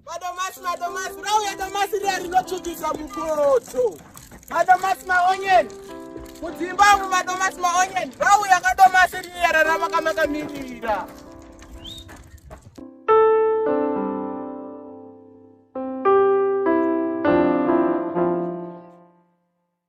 Madomasi, madomasi, rauya domasi riya rinotsvukisa mukoto. Madomasi maonyeni. Mudzimba umu madomasi maonyeni. Rauya kadomasi riya rarama kamakamirira.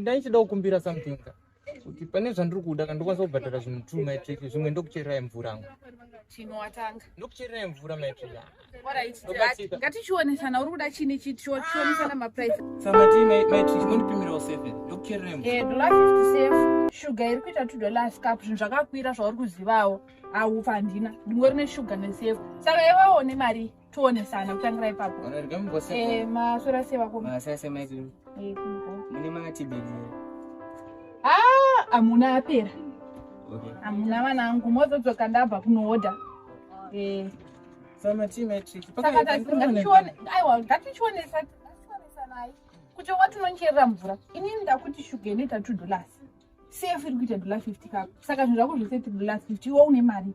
ndaichida kukumbira something kuti pane zvandiri kuda kana ndokwanisa kubhadhara zvinhu two maitrik zvimwe ndokuchererai mvura ngo chinowatanga ndokuchererai mvura maitrik ngatichionesana uri kuda chini chionesana maprice samati maitrik mondipimirawo seven ndokuchererai mvura eh, dollar fifty safe shuga iri kuita two dollars cup zvinhu zvakakwira zvauri kuzivawo aufa handina ndingori neshuga nesefe saka iwawo nemari toonesana kutangira ipapo eh, maswera sei vako eh, mune matibheri ah, hamuna apera hamuna vana angu mozodzoka ndabva kunoodha eh. aiwa ngatichionesanai kuti watinoncherera mvura inini ndakuti shuga inoita two dollars sefu iri kuita dollar fifty kako saka zvinhu zvako zvese ti dollar fifty iwe une mari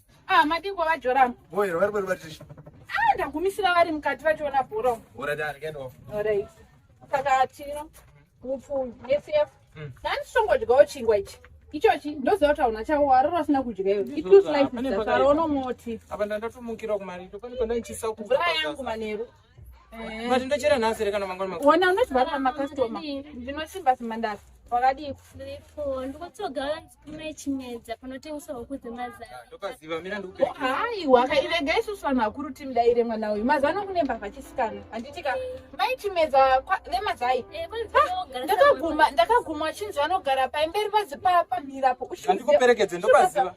Ah, madii kwava Joram? Boy, vari vari vari. Ah, ndagumisira vari mukati vachiona bhora. Ora da again off. Alright. Saka chino mupfumi SF. Mm. Nani songodyawo chingwa ichi. Ichochi ndoziva kuti hauna chavo warora usina kudya iwe. It looks like it's a sarono moti. Apa ndandatomukira kumari. Tokoni kona ichisa kuvura yangu manheru. Eh. But ndochera nhasi here kana mangwana makuru? Wona unozvara makastoma. Ndinosimba simandasi. Wakadii? Ndiripo. Ndikotogara ndikume chimedza panotengeswa huku dzemazana. Ah, ndopaziva mira ndikupe. Oh, Haiwa kairega isusu vanhu vakuru timdaire mwana uyu. Mazano kune mbavha chisikana. Handiti ka mai chimedza nemazai. Eh, ah, ndakaguma ndakaguma chinzi vanogara paimberi pazipapa mirapo. Ndikuperekedze ndopaziva.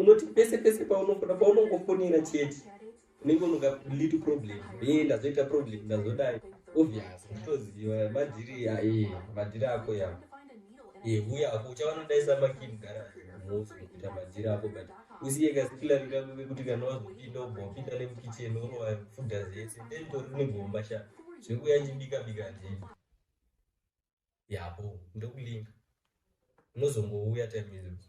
unoti pese pese paunofoda paunongofonera chete unenge unoka little problem e ndazoita problem ndazodai obvious unotoziva madhiri ae madhiri ako yavo yehuya eh, ako uchavanodaisa makini gara mhosi kuita madhiri ako but usiye kasikilari kako kekuti kana wazopinda ubva wapinda nemukicheni orova fuda zese then tori negomba sha zvekuya chibika bika ndii yabo ndokulinga unozongouya time idzo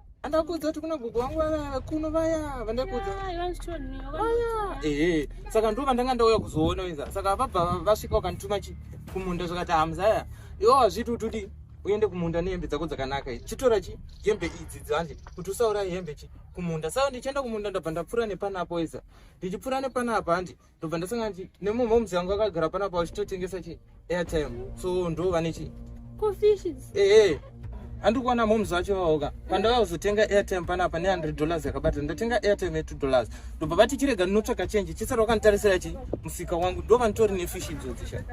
andakuudza kuti kuna gogo wangu vaya kuno vaya vandakuudza vaya ehe saka ndo vandanga ndauya kuzoona inza saka vabva vasvika vakandituma chi kumunda zvakati hamzaya iwo hazviti utudi uende kumunda nehembe dzako dzakanaka idzi chitora chi hembe idzi dzanje kuti usauraye hembe chi kumunda saka ndichienda kumunda ndabva ndapfuura nepanapa iza ndichipfuura nepanapa handi ndobva ndasanga ndi nemumoms yangu akagara pana pa uchitotengesa chi airtime so ndo vane chi ehe handi kuona moms vacho vaoka pandava kuzotenga airtime panapa ne hundred dollars yakabata ndatenga airtime ye two dollars ndobva vati chirega ndinotsvaka chenji chisati wakanditarisira chi musika wangu ndo vanitori nefish idzodzisha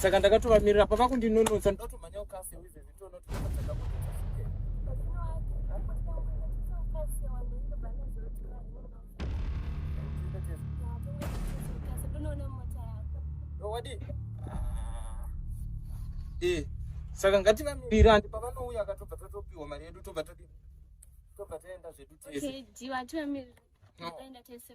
saka ndakatovamirira pavakundinonotsa ndotomhanya ukafe wizezi Eh, saka ngativamirire andi pavanouya akatobva tatopiwa mari yedu tobva todi tobva taenda zvedu tese. Okay, jiwa tivamirire. Taenda tese.